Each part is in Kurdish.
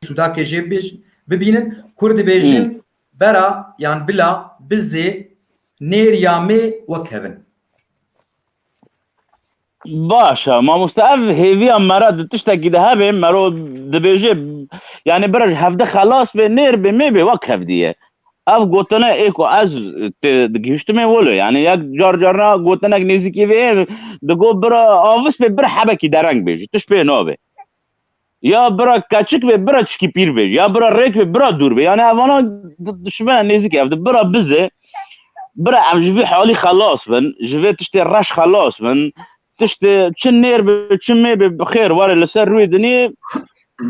Sudakê jê bibêjin, bibînin, Kurd dibêjin bera yan bila, bizê, nêr ya mê wek hevin. Baş e mamoste ev hêviya mera di tiştekî de hebê mero dibêjê yanî biraj hevde xelas bê nêr bê mêbê wek hevdî ye. Ev gotine ê ku ez tê digihiştimê wilo yanî yek car carna gotinek nêzîkî vê yê di got bira avis bê bira hebekî dereng bê ji tişt pê nabê. Ya bira keçik bê bira çikî pîr bê ya bira rêk bê bira dûr bê yanî evana dişimene nêzîkî ev di bira bizê bira em ji vê halî xelas bin ji vê tiştê reş xelas bin tiştê çi nêr bê çi mê bê bi xêr were li ser rûyê dinê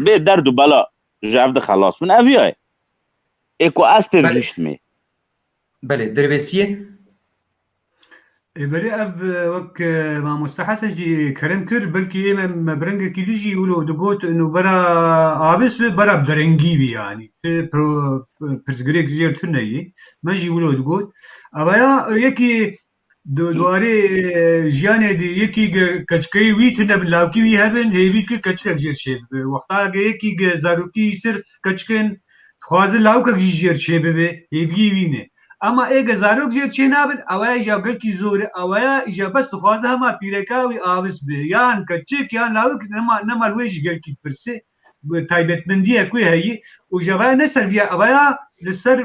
bê derd û bela. ji ev dixelas min ev ya ye. Ê ku ez têr gihîştimê. Belê, dervêsiyê. Ê belê ev wek mamoste Hesen jî kerem kir, belkî ê me biringekî din jî wilo digot ino bera avis bi bera bi derengî bî yanî. Ti pirsgirêk ji jêr tune yî. Me jî wilo digot. Eveya yekî Di warê jiyanê de yekî ge keçikeyê wî tune bi lawkî wî hebin hêvî dike keçikek jêr çêbibe. Wexta ge yekî ge zarokî sirf keçik in dixwaze lawikek jî jêr çêbibe hêviyê wî ne. Ema ê ge zarok jêr çênabin ewaya îja gelkî zor e. Ewaya îja bes dixwaze hema pîreka wî avis be. Yan keçik yan lawik nema nema li wê jî gelkî dipirse. taybetmendiyek wê heyî û ji vaya ne ser vîya evaya li ser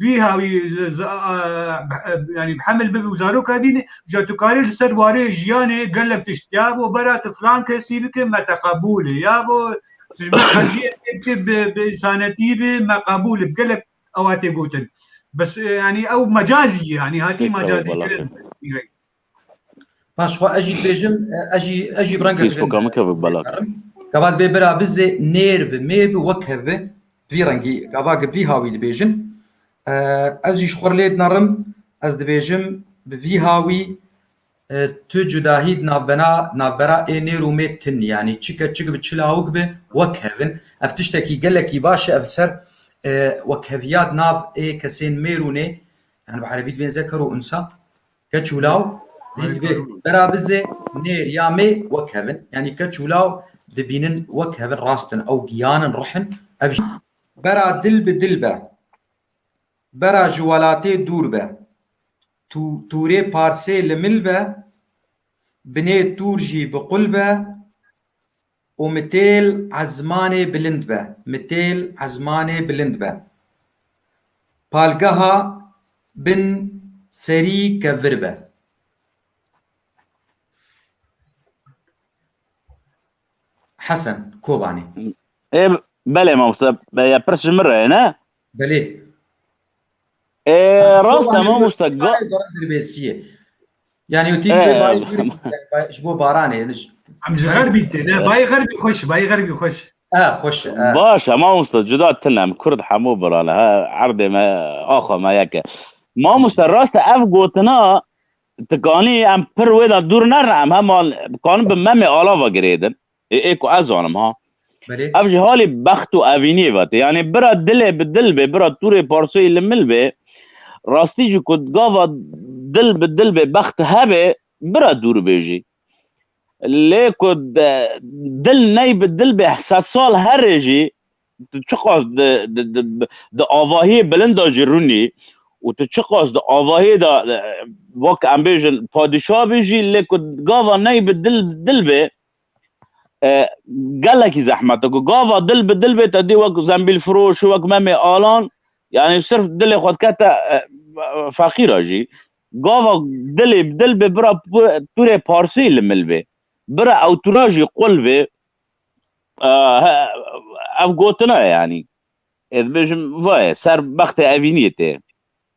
bîha wî yanî hemil bibî û zaroka bînî ja tu karî li ser warê jiyanê gelek tişt ya bo bera tu filan kesî bike me te qebûl e ya bo bi insanetî bê me qebûl e gelek ewa tê gotin bes yanî ew mecazî ye yanî hatî mecazî kirin. Paş xwe ez jî dibêjim ez jî ez jî renge Facebooka min kevik bela. Gavat bê bira bizê nêr bi mê bi wek hev bi vî rengî gava gi vî hawî dibêjim ez jî ji xwe lê dinarim ez dibêjim bi vî hawî tu cudahî di navbena navbera ê nêr û mê tin yanî çike çik bi çi lawik bi wek hevin ev tiştekî gelekî baş e ev ser wekheviya di nav ê kesên mêr û nê yani bi erebî dibêjin zeker û unsa Keç û law dî divê bera bizê nêr ya mê wek hevin. Yanî keç û law dibînin wek hevin rast in ew giyan in rih in ev jî. Bera dil bi dil be. Bera ji welatê dûr be. Tû tûrê parsê li mil be. Binê tûr jî bi qul be. û mitêl ezmanê bilind be, mitêl ezmanê bilind be. Palgeha bin serî ke vir be. Hesen Kobanî. Ê belê mamoste, ya pirs ji min re ye ne? Belê. E, rast e mamosta. Dirbêsiye. Yani o tîm e, bayê ji bo baranê hêniş. Em ji xerbî tê ne bayê xerbî xweş bayê xerbî xweş. E xweş e. Baş e mamosta cuda tinem kurd hemû birane ha erdê me axwe me yek e. Mamosta rast e ev gotina tikanî em pir wê de dûr nerin em heman dikarin bi memê alava girêdin. Ê ê ku ez zanim ha. Belê. Ev jî halê bext û evîniyê ve tê. Yanê bira dilê bi dil bê, bira tûrê parsoyî li mil bê. Rastî jî ku gava dil bi dil bê, bext hebê, bira dûr bê jî. Lê ku dil ney bi dil bê sed sal herê jî tu çiqas di di di di avahiyê bilind de jî rûnî û tu çiqas di avahiyê de wek em bêjin padîşah bî jî lê ku gava ney bi dil dil bê gelekî zehmet e ku gava dil bi dil bê te dî wek zembîlfiroş û wek memê alan yanî sirf dilê xwe dikete feqîra jî gava dilê bi dil bê bira tûrê parsî li mil bê bira ew tûra jî qul bê ev gotina ye yanî ez dibêjim va ye ser bextê evîniyê tê.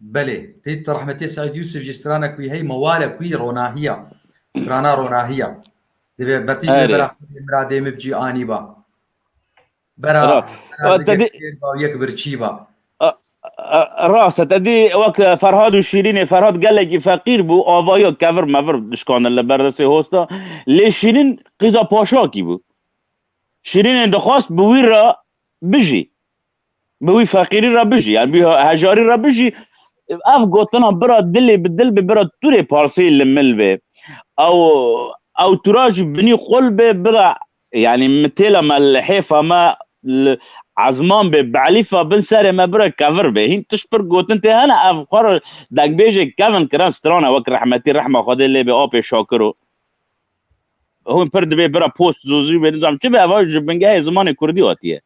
Belê, tê tu rehmetê Seîd Yûsif jî stranek wî hey ma wale ku yî ronahî ya. Strana ronahî ya. Divê betî divê bera xwedê miradê mib jî anî ba. Bera terazikê xwedê ba û yek birçî ba. Rast e, te dî wek Ferhad û Şîrînê, Ferhad gelekî feqîr bû, avayo kevir mevir dişkandin li ber destê Host de. Lê Şîrîn qîza paşakî bû. Şîrînê dixwast bi wî re bijî. Bi wî feqîrî re bijî yan bi hejarî re bijî. Ev gotina bira dilê bi dil bê bira tûrê parseyê li mil bê. Ew ew tûra jî binî qul bê bira yanî mitêla me li hêfa me li ezman bê bi elîfa bin serê me bira kevir bê. Hîn tişt pir gotin tê hene ev xwe re dengbêjê Kevin Kiran strana wek rehmetî rehma Xwedê lê bê apê Şakiro. Hûn pir dibê bira post zûzî bê nizam çi bê ev ji bingehê zimanê kurdî hatiye.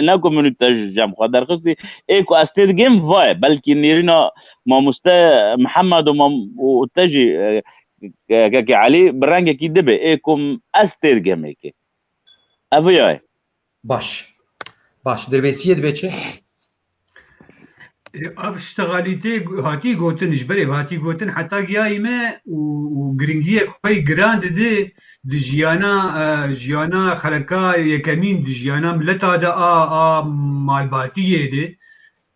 Na ku min û te ji cem xwe derxistî ê ku ez tê digim va ye. Belkî nêrîna mamoste Mihemed û mam û te jî Keke Elî bi rengekî dibe ê ku ez tê digim ê kê. Ev ya ye. Baş. Baş. Dirbêsiyê dibe çi? Ev ştegalî tê hatî gotin ji berê hatî gotin heta giyayî me û giringiyek xwe giran didê di jiyana jiyana xeleka yekemîn di jiyana mileta de a a malbatiyê de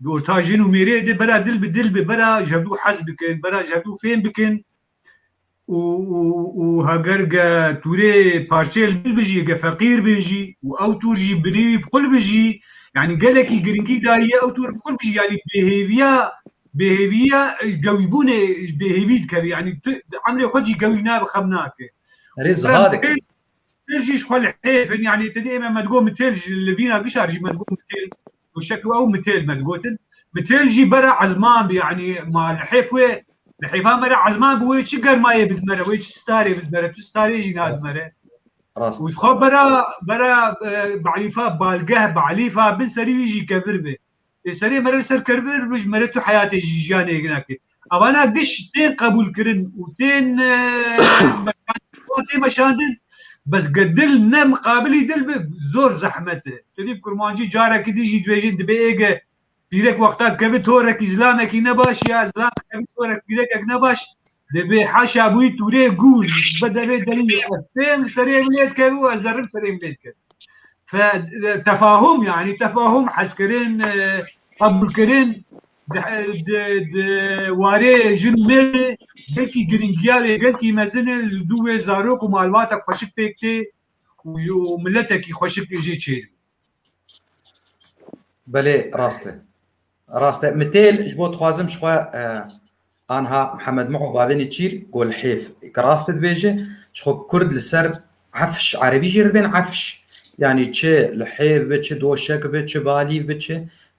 bi orta jin û mêrê de bera dil bi dil bi bera ji hevdû hez bikin bera ji hevdû fêm bikin û û û heger ge tûrê parçeyê li bil bijî ge feqîr bê jî û ew tûr jî binê wî bi xul bijî yanî gelekî giringî daye ew tûr bi xul bijî yanî bêhêviya bêhêviya gewîbûnê ji bêhêvî dikeve yanî tu emrê xwe jî gewî nabe xem nake. Erê ziha dike. Têl jî ji xwe li hêf in yanî tenê ême me digot mitêl ji li vîna gişar jî me digot mitêl û şekl ew mitêl me digotin. Mitêl jî bera ezman bi yanî ma li hêf wê li hêfa me re ezman bi wê çi germayê bidime re wê çi sitarê bidime re tu sitarê jî nadime re. Rast. Û dixwa bera bera e, be'lîfa balgeh be'lîfa bin serî wî jî kevir be. Lê serê me re ser kervir bij me re tu heyatê ji jiyanê yek nakê. Evana giş tên qebûlkirin û tên wan tê meşandin bes ge dil ne miqabilî dil be zor zehmet e. Tu nîv kurmancî carekî din jî dibêjin dibê êge pîrek wextan keve torekî zilamekî ne baş ya zilam keve torek pîrekek ne baş. Divê heşa bûyî tûrê gûr bi devê derî ez tên serê min lê dikevî û ez derim serê min lê dikevî. Fe tefahum yanî tefahum hezkirin qebûlkirin di di warê jin û mêrê gelkî girîngiya wê gelkî mezin e li dû wê zarok û malbata xweşik pêk tê û miletekî xweşik jê çêlû. Belê rast e. Rast e. Mitêl ji bo dixwazim ji xwe anha Mihemed Muo Badinê çîr got li hêv ke rast dibêje ji xwe kurd li ser efş erebî jî dibên efş yanî çi li hêv bi çi doşek bi çi balîv bi çi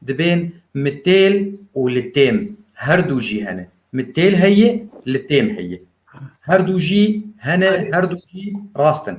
dibên mitêl û li têm her du jî hene mitêl heye li têm heye her du jî hene her du jî rast in.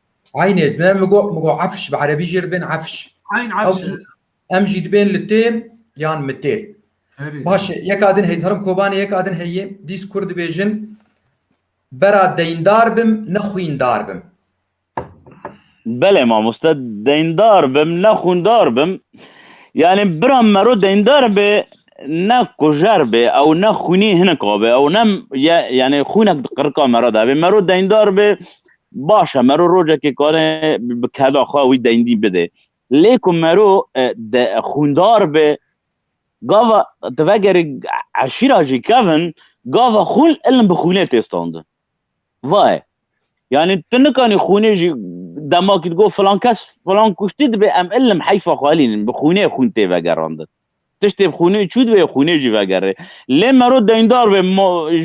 Aynê me mi got mi got efş bi erebî jê dibên efş. Ayn efş. Em jî dibên li tê yan mi tê. Baş e yek adin heyî zarim Kobanê yek adin heyî dîs kur dibêjin bera deyndar bim ne xwîndar bim. Belê mamoste deyndar bim ne xwîndar bim. Yani bira mero deyndar bê ne kujer bê ew ne xwînî hinek abê ew ne yani xwînek di qirika mero de bê mero deyndar bê Baş e mero rocekê kare bi keda xwe wî deyndî bide. Lê ku mero de xwîndar be gava tu vegerî eşîra jî kevin gava xwîn ilm bi xwînê tê standin. Va ye. Yanî tu nikanî xwînê jî demakî digot filan kes filan kuştî dibe em ilm heyfa xwe elînin bi xwînê xwîn tê vegerandin. Tiştê bi xûnê çû divê xûnê jî vegerê. Lê mero deyndar be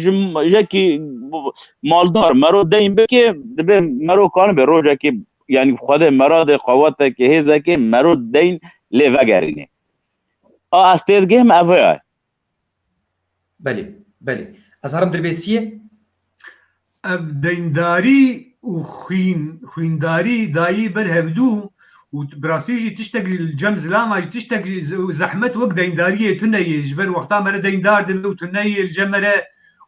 ji yekî maldar mero deyn bike dibe mero kanî be rojekê yanî xwedê meradê qewetekê hêzekê mero deyn lê vegerînê. A ez têdigihim ev ya. Belê, belê. Ez herim dirbêsiyê? Ev deyndarî û xwîn, xwîndarî dayî ber hevdû û bi rastî jî tiştek li cem zilama jî tiştek zehmet wek deyndariyê tune yê. Ji ber wexta me re deyndar dibe û tu neyê li cem me re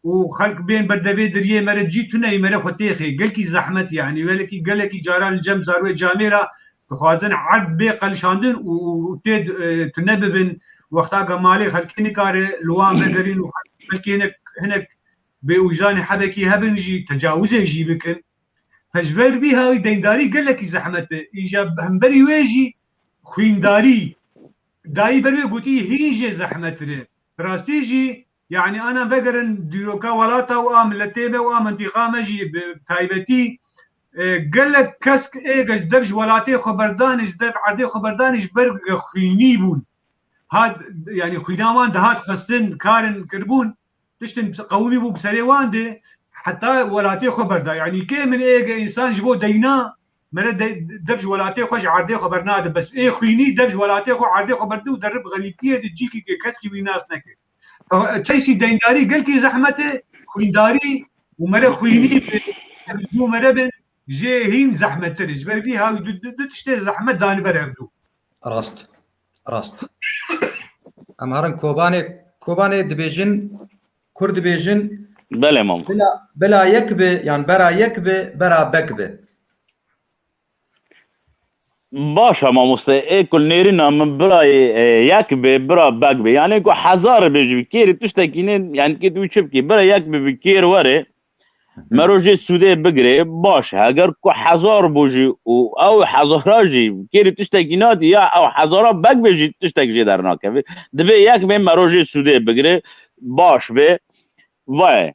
û xelk bên ber devê diriyê me re cî tu neyê me re xwe têxê. Gelkî zehmet yanî. Gelekî gelekî caran li cem zarwê camê ra Dixwazin erd bê qelişandin û tê tune bibin, wexta ke malê xelkê nikare li wan vegerîn û xelkê hinek hinek bêwîjanê hebekî hebin jî tecawizê jî bikin. Pejber vî hawî deyndarî gelekî zehmet e. Îja hemberî wê jî xwîndarî. Dayî ber wê gotî hîn jê zehmetir e. Bi rastî jî Yanî anan vegerin dîroka welata û a miletê me û a mintîqa me jî bi taybetî gelek kesk ê ji dev ji welatê xwe berdanê, ji dev erdê xwe berdanê ji ber ku xwînî bûn. Hat yanî xwîna wan dihat xwestin, karin kiribûn, tiştin qewimî bû bi serê wan de heta welatê xwe berda. Yanî kê min ê ge însan ji bo deyna mere dev ji welatê xwe ji erdê xwe bernadin bes. Ê xwînî dev ji welatê xwe û erdê xwe berdin û derib xerîbtiyê de cîkî ke keskî wî nas nekir. Çeysî deyndarî gelkî zehmet e, xwîndarî û mere xwînî du mere bin jê hîn zehmettir e. Ji ber vî hew du tiştê zehmet danî ber hev du. Rast. Rast. Em herin Kobanê Kobanê dibêjin Kurd dibêjin Belê mam. Bila, bila yek bi yan bera yek bi bera bek bi. Baş e mamoste ê ku nêrîna min birayê yek bê bira beg bê yanê ku hezar bê ji kêrî tiştekî nê yanî kê tu çi bikî bira yek bê bi kêr were mero jê sûdê bigirê baş e eger ku hezar bû jî û ew hezara jî kêrî tiştekî nadî ya ew hezara beg bê jî tiştek jê dernakevê dibê yek bê mero jê sûdê bigirê baş bê vaye.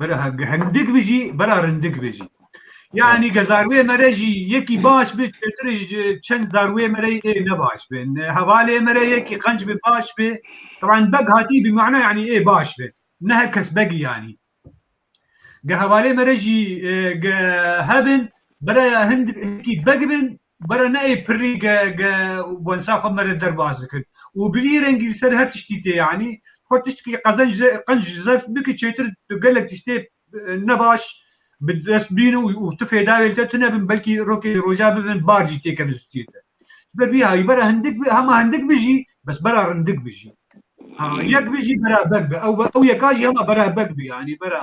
Bera hindik bijî, bera rindik bijî. Yani ke zarwê me re jî yekî baş bi çêtir ji çend zarwê me re ê ne baş bi. Hevalê me re yekî qenc bi baş bi. Taban beg hatî bi mana yani ê baş bi. Ne her kes begî yanî. Ge hevalê me re jî ge hebin bera hindik hikî beg bin Bara ne ê pirrî ge ge û bonsa xwe mere derbas dikir û bi vî rengî li ser her tiştî tê yanî xwe tiştkî qezenc ze qenc zef bike çêtir tu gelek tiştê ne baş bi dest bîn û tu fêda wê li te tune bin belkî rokê li roja bibin bar jî tê kevin stûyê te. Ji ber vî hawî bara hindik bi hema hindik bijî bes bara rindik bijî. Ha yek bijî bara bek bi ew be ew yeka jî hema bara bek bi yanî bara.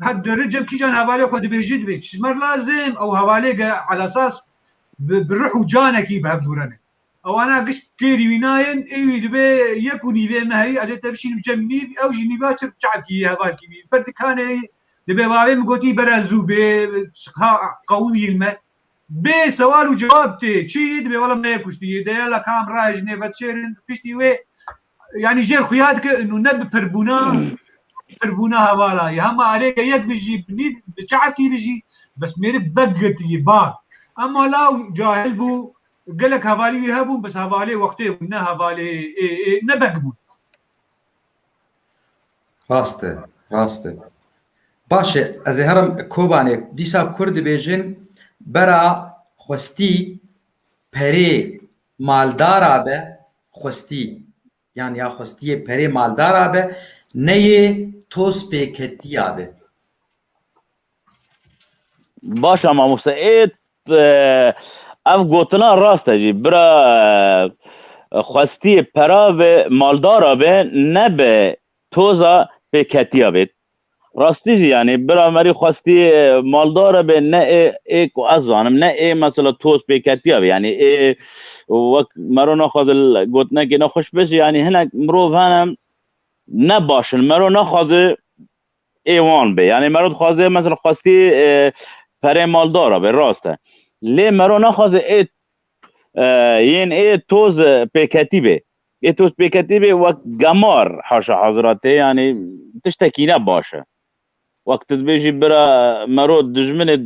Her deri cem kîjan hevalê xwe dibêjî dibê çizmer lazim ew hevalê ge elasas bi ruh û canekî bi hev dûrene. Ewana gişt kêrî wî nayên êwî dibê yek û nîvê me heyî ez ê te bişînim cem nîv ew jî nîva çirk çavkî hevalkî bî ber dikanê yî dibê bavê min gotî bere zû bê ha qewimîyên me bê sewal û cewab tê çi yî dibê wela me yê kuştî yî deya la kam ra jinê vet şêrin kiştî wê Yanî jêr xuya dike û ne bi pirbûna pirbûna hevala ye. Hema erê ke yek bijî bi nîv bi çe'kî bijî bes mêrik bek girtiyî bal. Hema law cahil bû gelek hevalî wî hebûn bes hevalê wextê bûn ne hevalê ê ê ne bek bûn. Rast e, rast e. Baş e, ez ê herim Kobanê. Dîsa Kurd dibêjin bera xwestî perê Maldara be xwestî yan ya xwestiyê perê maldara be neyê toz pêketiya be. Baş e mamoste ê ev gotina rast e jî bira xwestiyê pera be maldara be ne be Toza pêketiya bêt. Rastî jî yanî bira me rî xwestî maldare be ne ê ê ku ez zanim ne ê mesela toz pêketiya be yanî ê wek mero naxwaze gotinekê ne xweş be jî yanî hinek mirov hene ne baş in mero naxwaze ê wan be yanî mero dixwaze mesela xwestî perê maldara be rast e lê mero naxwaze ê yên ê toz pêketî be Lê tostpêketî bê wek gemar haşa hazira tê yanî tiştekî ne baş e. Wek tu dibêjî bira mero dijminê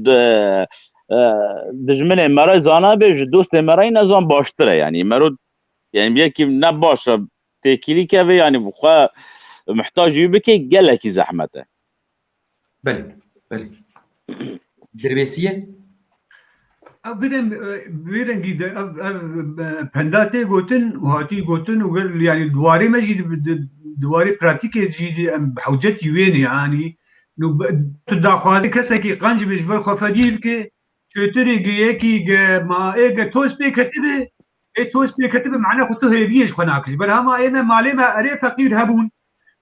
dijminê mere zanabe ji dostê merayî nezan baştir e yanî mero yanî yekî ne baş e têkîlî keve yanî xwe muhtaj wî bikê gelekî zehmet e. Belê, belê. Dirbêsî ye? Ev birem birengî de ev ev penda tê gotin û hatî gotin û gel yanî di warê me jî di warê pratîkê jî dî em bi hewcetî wêne yanî nû tu daxwazî kesekî qenc bê ji ber xwe fedî bike çêtirê ge yekî ge ma ê ge toz pê ketibê ê toz pê ketibê mane xwe tu hêviyê ji xwe nakir ji ber hema ê me malê me erê feqîr hebûn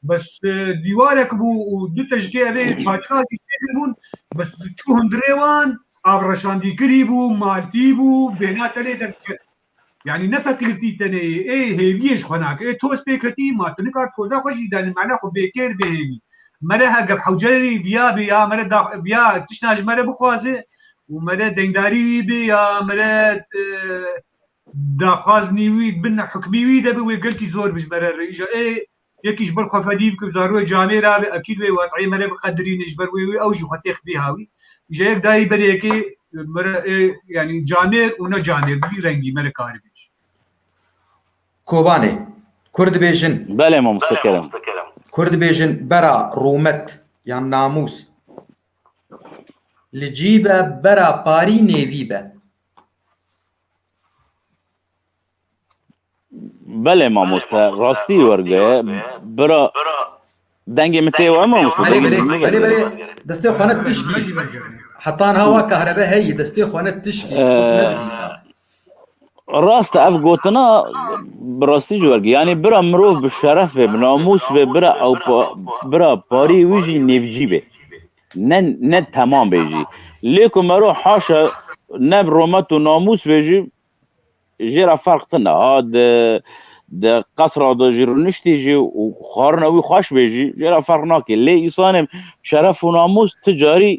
بس دیوارek bû û du tejikê evê paçka jî çêkiribûn bes çû hundirê wan avreşandîkirî bû, maltî bû, bêhna tenê derdiket. Yanî ne feqîrtî tenê yê, ê hêviyê ji xwe nake, ê toz pê ketî, ma tu nikar toza xwe jî danî mane xwe bêkêr bêhêvî. Mere ha gef hewcerê wî biyabê ya mere da biya tiştan ji mere bixwaze û mere dengdarî wî bê ya mere Daxwazî wî bin hukmî wî de bi wê gelkî zor bijbere re îja ê yekî ji ber xwe fedî bike û zarûyê canê re abe ekîd wê waqîyê me re biqedirîne ji ber wê wê ew jî xwe têx bîha wî îja yek dayî berê yekê me re ê yanî canêr û ne canêr bi vî rengî me re karî bê jî. Kobanê. Kur dibêjin. Belê mamoste kerem. Kur dibêjin bera rûmet yan namûs li cî be bera parî nêvî be. Belê mamoste rastî werge bira dengê min tê we mamoste Belê belê belê belê destê xwe ne tişkî. Hetan hawa kahrebe heyî destê xwe ne tişkî nedîsa. Rast ev gotina bi rastî ji werge yanî bira mirov bi şeref bê bi namûs bê bira ew bira parî wî jî nêvcî bê. Ne ne temam bê jî. Lê ku me ro haşa ne romet û namûs bê jî jê re ferq tune. Ha di di qesra de jî rûniştî jî û xwarina wî xweş bê jî jê re ferq nake. Lê îsanê şeref û namûs ti carî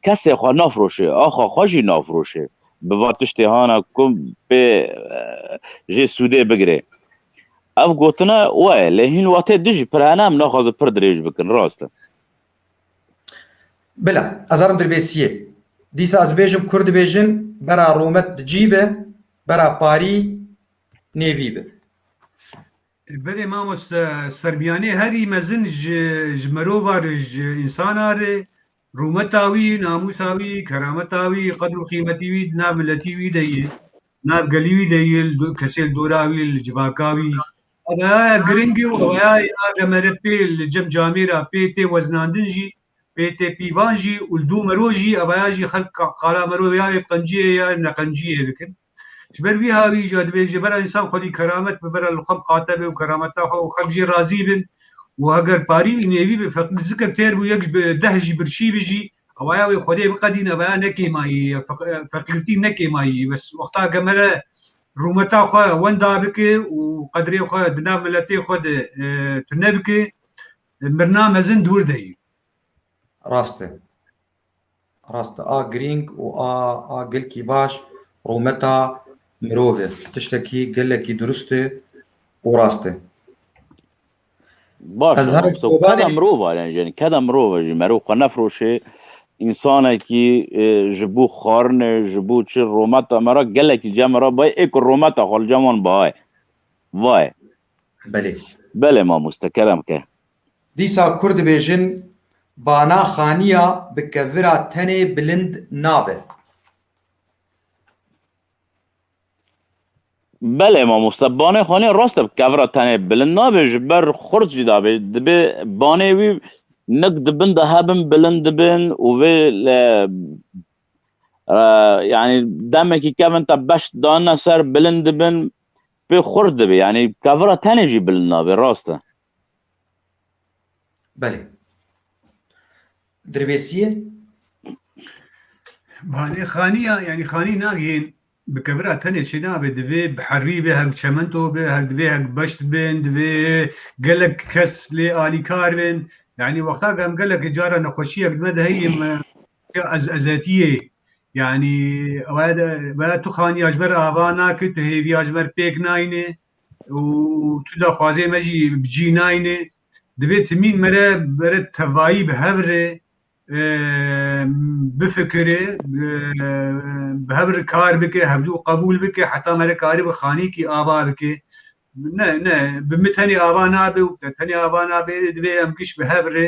kesê xwe nafiroşê, axa xwe jî nafiroşê. Bi va tiştê hana ku pê jê sûdê bigirê. Ev gotina we ye lê hîn watê din jî pir hene em naxwazin pir dirêj bikin rast e. Bila, ez herim dirbêsiyê. Dîsa ez bêjim kur dibêjin bera rûmet bi cî be, bera parî nêvî be. Belê mamoste Serbîyanê herî mezin ji mirovar ji însanar e, Rûmeta wî, namûsa wî, kerameta wî, qedr û qîmetî wî di nav miletî wî de yê, di nav gelî wî de yê, li kesê li dora wî, li civaka wî. Evayaye giring e û evayayê a demere pê li cem camê ra pê tê weznandin jî, pê tê pîvan jî û li dû mero jî evaya jî xelk qala mero ya wê qenciyê ya neqenciyê dikin. Ji ber vî havî jî divê ji bera însan xwedî keramet bibire li xwe biqate be û kerameta xwe û xelk jê razî bin û heger parî û nêvî bi feqîr zikir têr bû yek ji bi deh jî birçî bi jî ewaya wê xwedê biqedîn ewaya ne kêmayî ye feqîrtî ne kêmayî ye bes wexta ke mere rûmeta xwe wenda bike û qedrê xwe di nav miletê xwe de tune bike mirina mezin di wir de ye. Rast e. Rast e, a girîng û a a gelkî baş rûmeta mirov e. Tiştekî gelekî dirust e û rast e. Baş Ez e, herek so kobanê- keda mirov a yani jin, keda mirov e jî merov xwe nefroşê, însanekî e, ji bo xwarinê, ji bo çi rûmeta me re gelekî cem e re bayê ê ku rûmeta xwe li cem wan biaye. Vayê. Belê. Belê mamoste, kerem ke. Dîsa kur dibêjin bana xaniya bi kevira tenê bilind nabe. Belê mamoste banê xaniya rast e bi kevira tenê bilind nabe ji ber xurt jî dabê dibê banê wî nik di bin de hebin bilind dibin û vê yanî demekî kevin te beş danine ser bilind dibin pê xurt dibê yanî kevira tenê jî bilind nabe rast e. Belê. Dirbêsiyê? Malê xaniya, yanî xanî nagihên bi kevira tenê çênabe divê bi herî be hev çemento be hev divê hev beşt bin divê gelek kes lê alîkar bin yanî wexta em gelek cara nexweşiyek me de heyî me ez ezetiyê yanî tu xaniya ji ber ava nake tu hêviya ji ber pêk nayînê û tu daxwazê me jî bi cî nayne. Divê timîn me re bere tevayî bi hev re bifikire, bi hev re kar bike, hevdû qebûl bike heta me re karî bi xanîkî ava bike. Ne, ne, bi min tenê ava nabe û bi te tenê ava nabe. Divê em giş bi hev re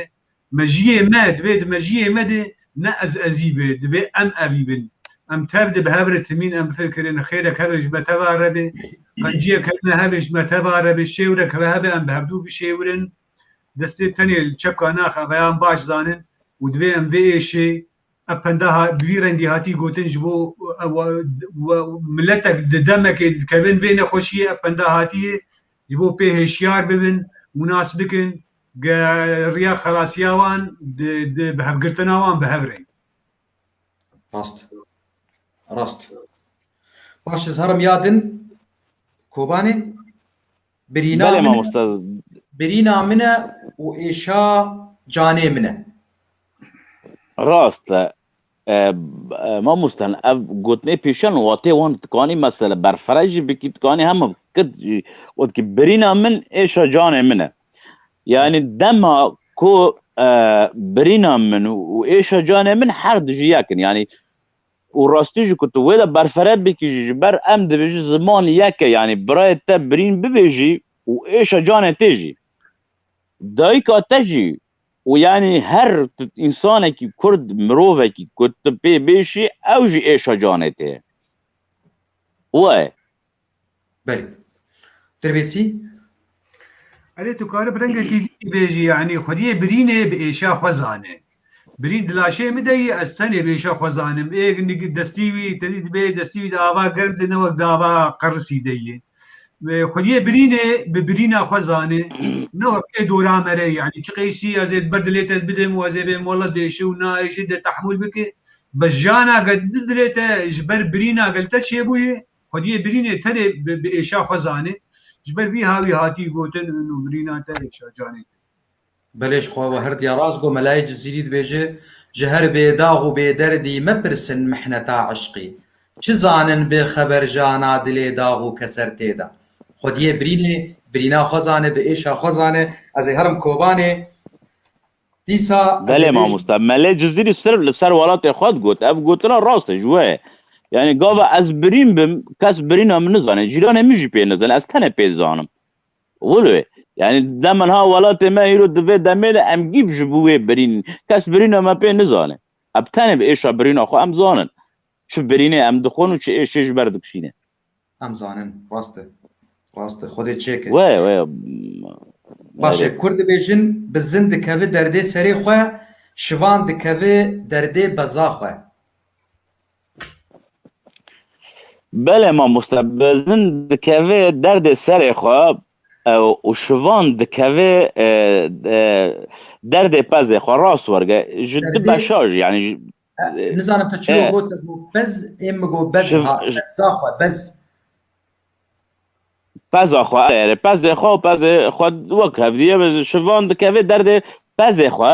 Mejiyê me divê di mejiyê me de ne ez ezî be, divê em evî bin. Em tev de bi hev re timîn em bifikirîn, xêrek hevê ji me teva re be, qenciyek hene hevê ji me teva re be, şêwirek ve hebe em bi hevdû bişêwirin. Destê tenê li çepka nax e, veyan baş zanin û divê em vê êşê ev penda bi vî rengî hatî gotin ji bo miletek di demekê dikevin vê nexweşiyê ev penda hatiyê ji bo pê hêşiyar bibin û nas bikin Riya xelasiya wan di bihevgirtina wan bi hev re. Rast. Rast. Baş ez herim ya din Kobanê birîna Belê min e. mamosta. Birîna min e û êşa canê min e. Rast e. Mamoste ev gotinê pêşan watê wan dikanî mesela berfireh jî bikî dikanî hema kit jî got ki birîna min êşa canê min e. Yanî dema ku birîna min û êşa canê min her du jî yek in. Yanî û rastî jî ku tu wê de berfireh bikî jî ji ber em dibêjin ziman yek e. Yanî birayê te birîn bibêjî û êşa canê tê jî. Dayika te jî Û yanî her însanekî kurd, mirovekî ku tu pê bêşî ew jî êşa canê te ye. We. Belê. Dirbêsî. Erê tu kari bi rengekî dî jî bêjî yanî xwediyê birînê bi êşa xwe zane. Birîn di laşê min de yî ez tenê bi êşa xwe zanim. Ê destî wî tedî dibê destî wî di ava germ de ne wek di ava qerisî de yê. Xwediyê birînê bi birîna xwe zanê. Ne wek ê dora me re yanî çi qeysî ez ê ber dilê te ez bidim û ez ê bêm wela dê şi û na ê şi dê tehmûl bike. Bes jana ke di dilê te ji ber birîna gel te çêbûyê, xwediyê birînê tenê bi êşa xwe zanê. Ji ber vî ha wî hatî gotin û birîna te êşa canê te ye. Belê ji xwe we her diya rast got Melayê Cizîrî dibêje, Ji her bêdax û bêderdî mepirsin mihneta eşqî. Çi zanin bi xeber jana dilê dax û keser tê de. Xwediyê birînê, birîna xwe zane, bi êşa xwe zane. Ez ê herim Kobanê. Dîsa ez ê Belê bêjim. mamosta, Melê Cizîrî sirf li ser welatê xwe digot. Ev gotina rast e, ji we ye. Yanî gava ez birîn bim, kes birîna min nizane. Cîranê min jî pê nizane, ez tenê pê dizanim. Wilo yanî dem niha welatê me hîro di vê demê de em gîb ji bo wê birîn kes birîna me pê nizane. Em tenê bi êşa birîna xwe em zanin. Çi birînê em dixwin û çi êşê ji ber dikişînin. Em zanin. Rast e. Rast e. Xwedê çêke. Waya waya. Baş e. Kurd dibêjin bi zin dikevi derdê serê xwe, şivan dikevi derdê beza xwe. Bele mamoste bezin dikeve derdê serê xwe û şivan dikeve derdê pezê xwe rast werge ji du beşa jî yanî nizanim tu çi got pez ê min got bez peza xwe bez peza xwe erê pezê xwe pezê xwe wek hevdî şivan dikeve derdê pezê xwe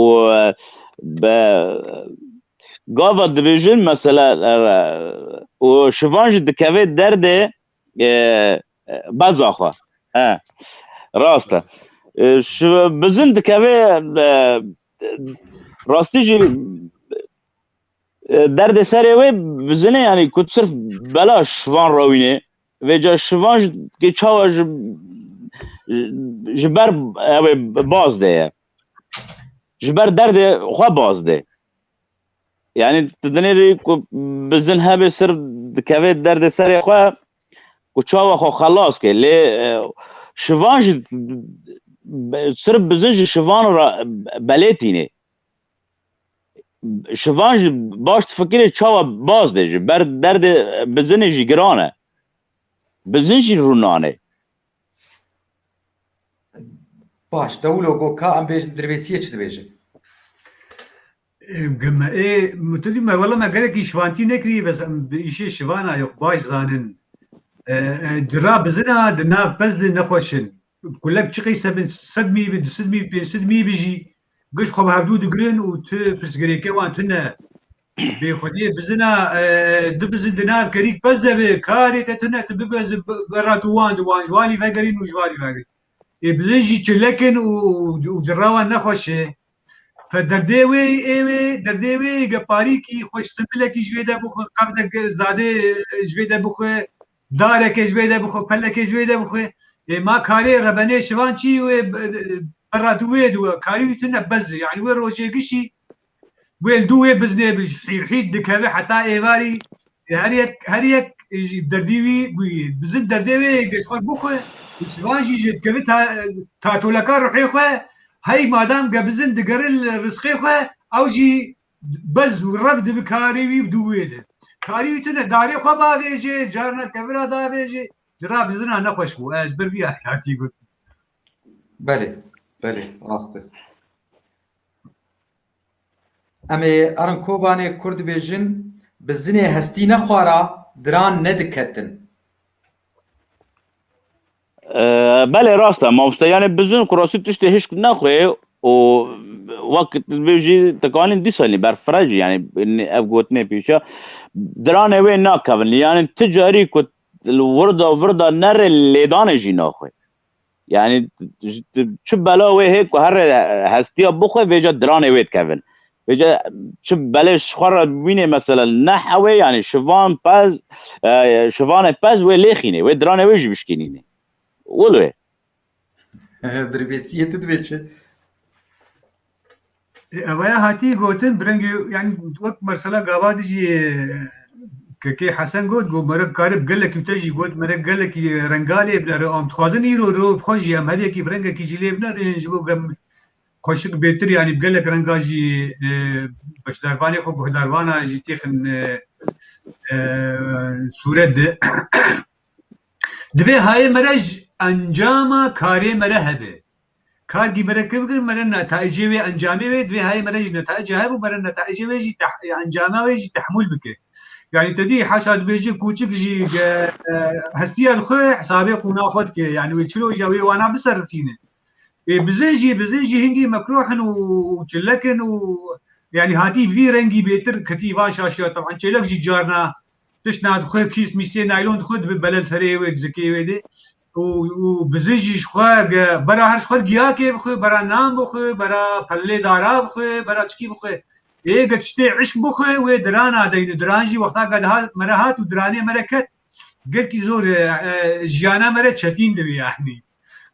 û bi gava dibêjin mesela û şivan jî dikevê derdê beza xwe he rast e bizin dikevê rastî jî derdê serê wê bizinê yanî ku sirf bela şivan rawînê Vêca şivan ji kê çawa ji ji ber ewê baz de ye. Ji ber derdê xwe baz dê. Yani tu dinê rê ku bi zin hebê sir dikevê derdê serê xwe ku çawa xwe xelas kê. Lê şivan jî sir bi zin ji şivan re belê tînê. Şivan jî baş difikirê çawa baz dê ji ber derdê bizinê jî giran e. Bizin jî rû nanê. Baş, dewlo got ka em bêjin dirvêsiyê çi dibêjin? Ê me ê min tu dî me wela me gelekî şivantî nekirî bes em bi îşê şivan a yox baş zanin. Cira bizin a di nav pez de nexweş in. Kulek çiqî sebin sed mî bi du sid mî pênc sid mî bi jî giş xwe bi hevdû digirin û tu pirsgirêkê wan tune. Bê xwediyê bizina du bizin di nav kerîk pez de bi karê te tune tu bibez berra tu wan di wan ji walî vegerîn û ji walî vegirin. Ê bizin jî çilekin û û cira wan ne xweş e. Fe derdê wê ê wê derdê wê ê ge parîkî xweş simbilekî ji wê de bixwe qevdek zade ji wê de bixwe Darekê ji wê de bixwe, pelekê ji wê de bixwe. Ê ma karê rebenê şivan çi wê perra dû wê di we. Karî wî tu ne bez e. Yanî wê rojê gişî wê li dû wê biznê bi ji hîr hîr dikeve heta êvarî her yek her yek ji derdî wî bûyî. Bizin derdê wê yê giş xwe bixwe û şivan jî ji dikeve ta tatoleka ruhê xwe. Hey madam ge bizin digere li risqê xwe ew jî Bez û rev dibi karî wî dû wê de. Karî wî tune darê xwe bavêjê, carina tevira davêjê. Ji ra bizina nexweş bû. Ez ji ber vî hatî gotin. Belê, belê, rast e. Em ê erin Kobanê kur dibêjin, Bi zinê hestî ne xwara, diran ne diketin. Belê rast e mamoste yanê bizin ku rastî tiştê hişk nexwê û wek tu dibê jî tikanîn dîsa nî berfirec e yanê ev gotinê pîş e diranê wê nakevin yanê ti carî ku li wirda virda nerê lêdanê jî naxwê yanê çi bela wê hê ku herê hestiya bixwe vêca diranê wê dikevin Bêje çi belê ji xwe re bibînê mesele ne hewê yanî şivan pez şivanê pez wê lêxînê wê diranê wê jî bişkînînê. Wil wê. Dirbêsiyê tu divê çi? Ewe hatî gotin birengê yani wek mesela gava dijî Kekê Hesen got got mere karib gelekî te jî got mere gelekî rengalê bile re am dixwazin îro ro xwe jî em herêkî bi rengekî jî lê bine rêjin ji bo gem Koşik bêtir yanî bi gelek renga jî beşdarvanê xwe guhdarvana jî têxin sûret di. Divê hayê me re ji encama karê me re hebe. Kargî me re kê bikin me re netaicê wê encamê wê divê hayê me re jî netaica hebe û me re netaicê wê jî encama wê jî tehmûl bike. Yanî te dî haşa dibêje kûçik jî hestiya xwe hesabê qûna xwe dike yanî wê çi roja wê wana biserifîne. Ê bizejî bizejî hingî mekroh in û çilek in û yanî hatî vî rengî bêtir ketî van şaşiya teban çêlek jî carna tişt na dixwe kîs mîsê naylon dixwe dibe belel serê wê zikê wê dê û û bizejî ji xwe ge bera her ji xwe giyakê bixwe bera nan bixwe bera pellê dara bixwe bera çikî bixwe ê ge tiştê îşq bixwe wê dirana deyn û diran jî wexta ge dihat me re hat û diranê me re ket gelkî zor e jiyana me re çetîn dibî yanî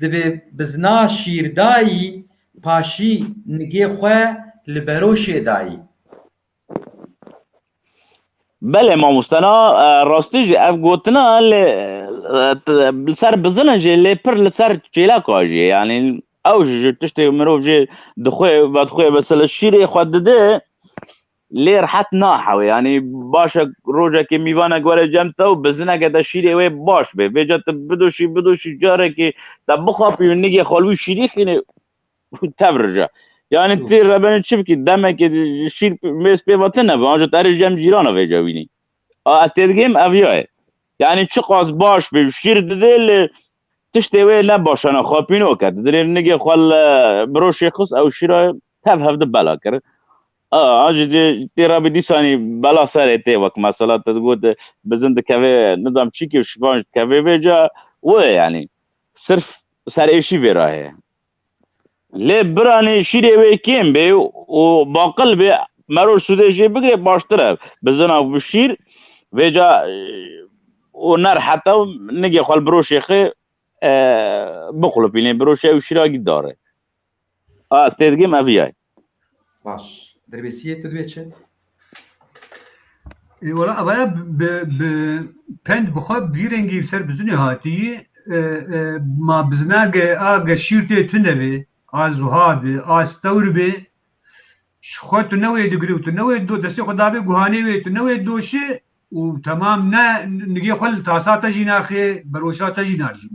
Divê bizna şîrdayî paşî nigê xwe li beroşê dayî. Belê mamoste na rastî jî ev gotina li ser bizina jî lê pir li ser çêleka jî ye yanî ew jî ji tiştê mirov jî dixwe vedixwe mesela şîrê xwe dide Lê rihet naxewe yanî baş e rojekê mîvanek were cem te û bi zineke te şîrê wê baş bê. Vêca tu bidoşî bidoşî carekê te bixapî û nigê xwe li wî şîrî xînê û tev rije. Yanî tu rebenê çi bikî demekê şîr mêz pê ve tune be anca tu erê cem cîran e vêca wînî. A ez têdigihim ev ya ye. Yanî çiqas baş bê şîr didê lê tiştê wê ne baş e ne xapînok e. Tu dilê nigê xwe li biroşê xist ew şîra tev hevdi bela kir. A ji tê re bi dîsanî bela serê tê wek mesela te digot bizin dikevê nizam çîkê û şivan ji dikevê vê ca wê yanî sirf serêşî vê re heye. Lê biranê şîrê wê kêm bê û baqil bê meroj sûdê jê bigirê baştir e. Bizina bi şîr vê ca û ner heta nigê xwe li biroşê xê biqulipînê biroşê ew şîra gî dare. A ez têdigim ev yay. Baş. Derbêsiyê tu divê çi? E, Wala evaya bi bi pend bi xwe bi vî rengî li ser bizinê hatiyî e, e, ma bizina ge a ge şîr tê tune bê a zuha bê a stewr bê ji xwe tu ne wê digirî û tu ne wê do destê xwe dabê guhanê wê tu ne wê doşê û temam ne nigê xwe li tasa te jî naxê beroşa te jî narjîn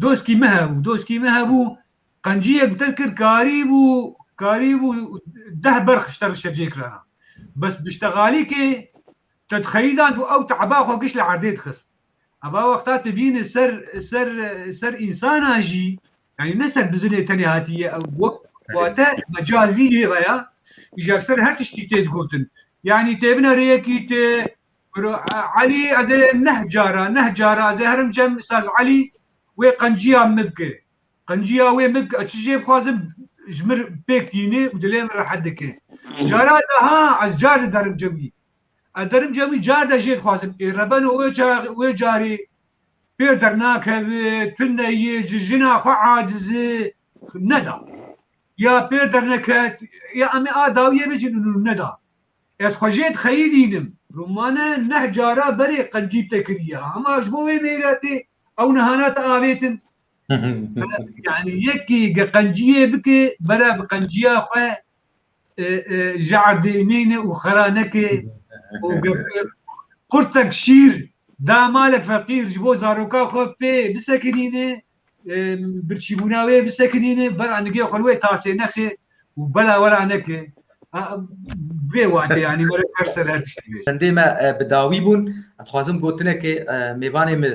Doskî min hebû, doskî min hebû, qenciyek bi te kir, karîbû, karîbû deh berx ji te re şecê kirana. Bes bi ştegalîkê te dixeyîdan ku ew te'eba xwe giş li erdê dixist. Eva wexta tu bînî ser, ser, ser însanan jî, yanî ne ser bizinê tenê hatiye ew, wek wate mecazî jê veya, îja bi ser her tiştî tê digotin. Yanî têbine rêyekî tu Biro Elî ez ê neh cara neh cara ez ê herim cem saz Elî wê qenciya min bike. Qenciya wê min bike çi jê bixwazim ji min pêk yînê û dilê min rehet dike. Cara de ha ez car de derim cem wî. Ez derim cem wî car de jê dixwazim ê rebeno wê çaxê wê carê pêr dernakeve tune yê ji jina xwe aciz e neda. Ya pêr derneket ya em ê a dawiyê bicînin û neda. Ez xwe jê dixeyî dînim. Rumane neh cara berê qencî te kiriye hema ji bo wê mêretê ew niha ne te avêtin. Yanî yekî ge qenciyê bike bere bi qenciya xwe ji erdê neyne û xera neke û ge qurtek şîr da malek feqîr ji bo zaroka xwe pê bisekinîne Birçîbûna wê bi sekinînê bera nigê xwe li wê tasê nexê û bela wera neke. Vê watê yanî were her ser her tiştî bêje. Hindê me bi dawî bûn. Dixwazim gotinekê mêvanê min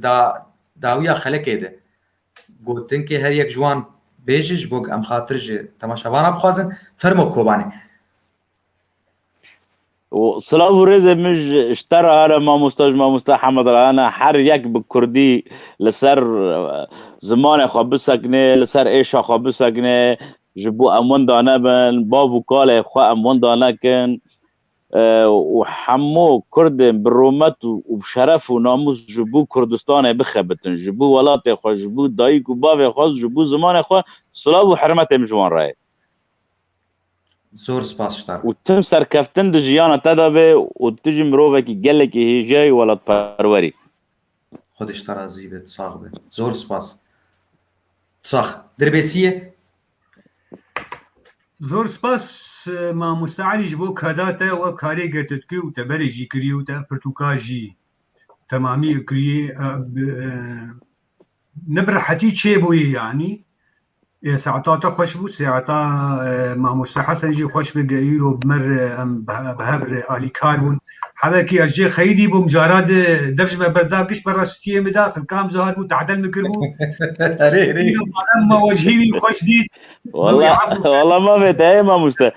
da dawiya xelekê de. Gotinkê her yek ji wan bêje ji bo ku em xatir ji temaşevanan bixwazin. Fermo Kobanê. û silav û rêzên min ji ji te re hene mamosta ji mamosta Hemed re hene her yek bi kurdî li ser zimanê xwe bisekinê li ser êşa xwe bisekinê ji bo em winda nebin bav û kalê xwe em winda nekin û hemû kurdên bi rûmet û bi şeref û namûs ji bo Kurdistanê bixebitin ji bo welatê xwe ji bo dayîk û bavê xwe ji bo zimanê xwe silav û hirmetê min ji wan re ye. Zor spas ji te. Û tim serkeftin di jiyana te de be û tu jî mirovekî gelekî hêjayî û welatperwer î. Xwedî ji te razî be, sax be. Zor spas. Sax. Dirbêsiyê? Zor spas Mamoste Elî ji bo kada te û ev karê ke tu dikî û teberê jî kirî û te pirtûka jî temamî kirî. Ni bi rehetî çêbûyî yanî Ê saeta te xweş bû, saeta mamoste Hesen jî xweş bi geyîro bi mer em bi hev re alîkar bûn. Hevekî ez cê xeyîdî bûm cara di dev ji me berda gişt berra stûyê min de xilkam zihar bû tedel min kiribû. Erê erê. Îro balem ma wecihî wî xweş dît. Wala wala mame te ê mamoste.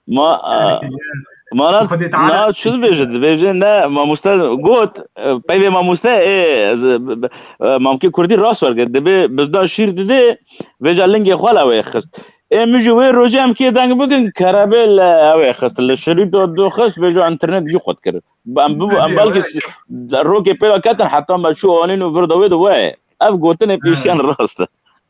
Ma ma na na şu dibêje dibêje ne mamoste got peyvê mamoste ê mamkê kurdî rast werge dibê bizda şîr didê vêca lingê xwe la wê xist ê min ji wê rojê em kê deng bikin kerebê le ewê xist li şirîto du xist vêca internet jî xwe dikir em bi em belkî rokê pêra ketin heta me çû anîn û vir da wê di wê ev gotinê pêşiyan rast e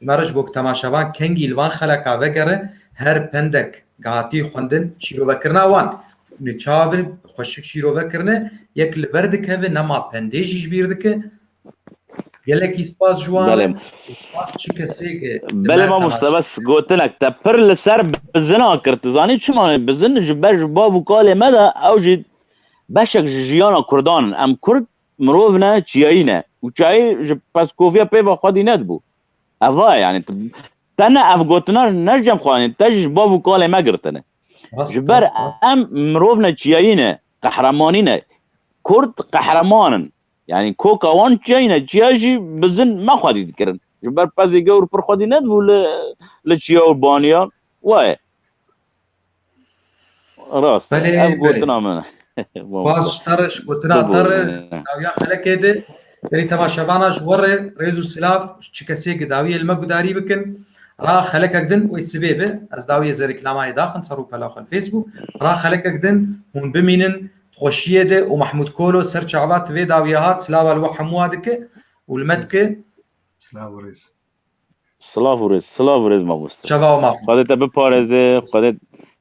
Meric ji bo ku temaşevan kengî li van xeleka vegerin, her pendek ku hatiye xwendin şîrovekirina wan û çavên xweşik şîrove kirine, yek li ber dikeve nema pendê jî ji bîr dike. Gelekî spas ji wan e û spas çi kesê ku li me temaşe dikin. Gotinek te pir li ser bizin a kir. Tu zanî çima? Bizin ji ber ji bav û kalê me de ew jî beşek ji jiyana Kurdan in. Em Kurd Mirov ne, çiyayî ne û çiyayî ji Peskoviya peyva xwedî nedibû. Eva ye yanî te ne ev gotina ne ji cem xwe anîn, te jî ji bav û kalê me girtin e. Ji ber em mirov ne çiyayî ne, qehremanî ne. Kurd qehreman in. Yanî koka wan çiyayî ne. Çiya jî bizin me xwedî dikirin. Ji ber pezê gewr pir xwedî nedibû li li çiya û baniya. Wa ye. Rast. Belê, Ev belê. gotina min. Bas tarış gotina Tabii. tarı dawiya xelekêdi. Derî teva şevana ji werê rêz û silav ji çi kesê ki dawiyê li me gudarî bikin. Ra xelekek din wê sibê bi ez dawiyê zerê kilamayê daxim ser û pela xwe li Facebook. Ra xelekek din hûn bimînin di xweşiyê de û Mahmûd Kolo ser çava ti vê dawiya hat silava li we hemû wa dike û li me dike Silav û rêz. Silav û rêz, silav û rêz mamoste. Çava û maxûs. Xwedê te biparêze, Xwedê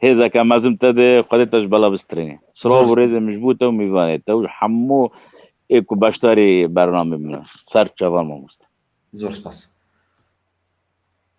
hêzeke mezin te de, Xwedê te ji bela bistrîne. Silav û rêzê min ji bo te û mîvanê te û ji hemû ê ku beşdarî bernamê min in. Ser çavan mamoste. Zor spas.